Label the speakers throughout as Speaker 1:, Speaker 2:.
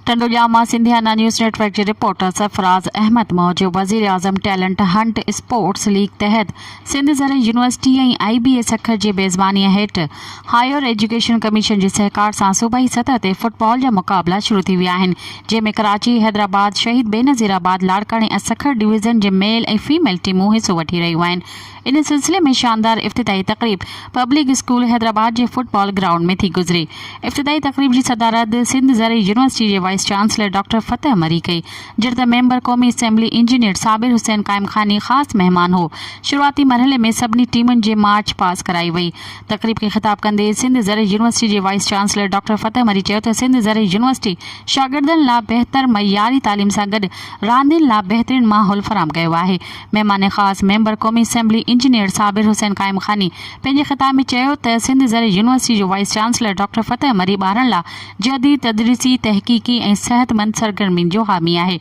Speaker 1: ٽنڊو ڄام مان Sindhiana news network جي reporter Sarfraz Ahmed موجب وزيراعظم ٽيلنٽ هنٽ اسپورٽس ليگ تحت سنڌ زرعي يونيورسٽي ۽ آئي بي اي سکر جي ميزباني هيٺ هائير ايجوڪيشن ڪميشن جي سهڪار سان صوبائي سطح تي فٽبال جا مقابلا شروع ٿي ويا آهن جنهن ۾ ڪراچي حيدرآباد شهيد بينظيرآباد لاڙڪاڻي ۽ سکر ڊويزن جي ميل ۽ فيميل ٽيمون حصو وٺي رهيون آهن ان سلسلي ۾ شاندار افتتاحي تقريب پبلڪ اسڪول حيدرآباد جي فٽ بال گرائونڊ ۾ ٿي گذري. افتتاحي تقريب جي صدارت سنڌ زرعي يونيورسٽي جي vice chancellor doctor Fateh Marri ڪئي، جڏهن ته ميمبر قومي assembly engineer Sabir Hussain Qaimkhani خاص مهمان هو. شروعاتي مرحلي ۾ سڀني ٽيمن جي مارچ پاس ڪرائي وئي. تقريب کي خطاب ڪندي سنڌ زرعي يونيورسٽي جي vice chancellor doctor Fateh Marri چيو ته سنڌ زرعي يونيورسٽي شاگردن لا بهتر معياري تعليم سان گڏ راندين لا بهترين ماحول فراهم ڪيو آهي. مهمان خاص ميمبر قومي اسيمبلي انجنيئر صابر حسين قائم خاني پنهنجي خطاب ۾ چيو ته سنڌ زرعي يونيورسٽي جو vice chancellor doctor Fateh Marri ٻارن لا جديد تدريسي، تحقيقي ۽ صحتمند سرگرمين جو حامي آهي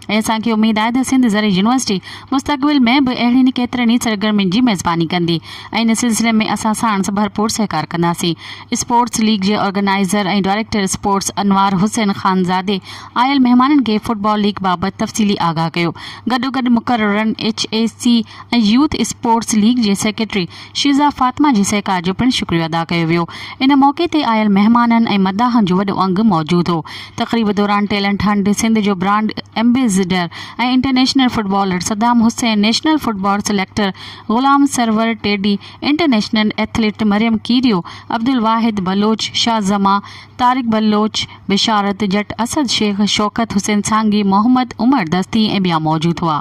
Speaker 1: ۽ اسان کي اميد آهي ته سنڌ زرعي يونيورسٽي مستقبل ۾ به اهڙين ڪيترن ئي سرگرمين جي ميزباني ڪندي ۽ ان سلسلي ۾ اسان ساڻس ڀرپور سهڪار ڪنداسين اسپورٽس ليگ جي organiser ۽ director sports Anwar Hussain خانزادي آيل مهمانن کي فٽبال ليگ بابت تفصيلي آگاهه ڪيو، گڏوگڏ مقررن H E C ۽ youth sports league جي سيڪريٽري شيزا فاطمه جي سهڪار جو پڻ شڪريو ادا ڪيو ويو، ان موقعي تي آيل مهمانن ۽ مداحن جو وڏو انگ موجود هو، تقريب دوران ٽيلنٽ هنٽ سنڌ جو brand ambassador ۽ international footballer Saddam Hussain, national football selector Ghulam Sarwar Teddy, international athlete Maryam Kerio, Abdul Wahid Baloch, Shah Zaman, Tariq Baloch, Basharat Jatt, Asad Shaikh, Shaukat Hussain سانگي، محمد عمر دستي ۽ ٻيا موجود هئا.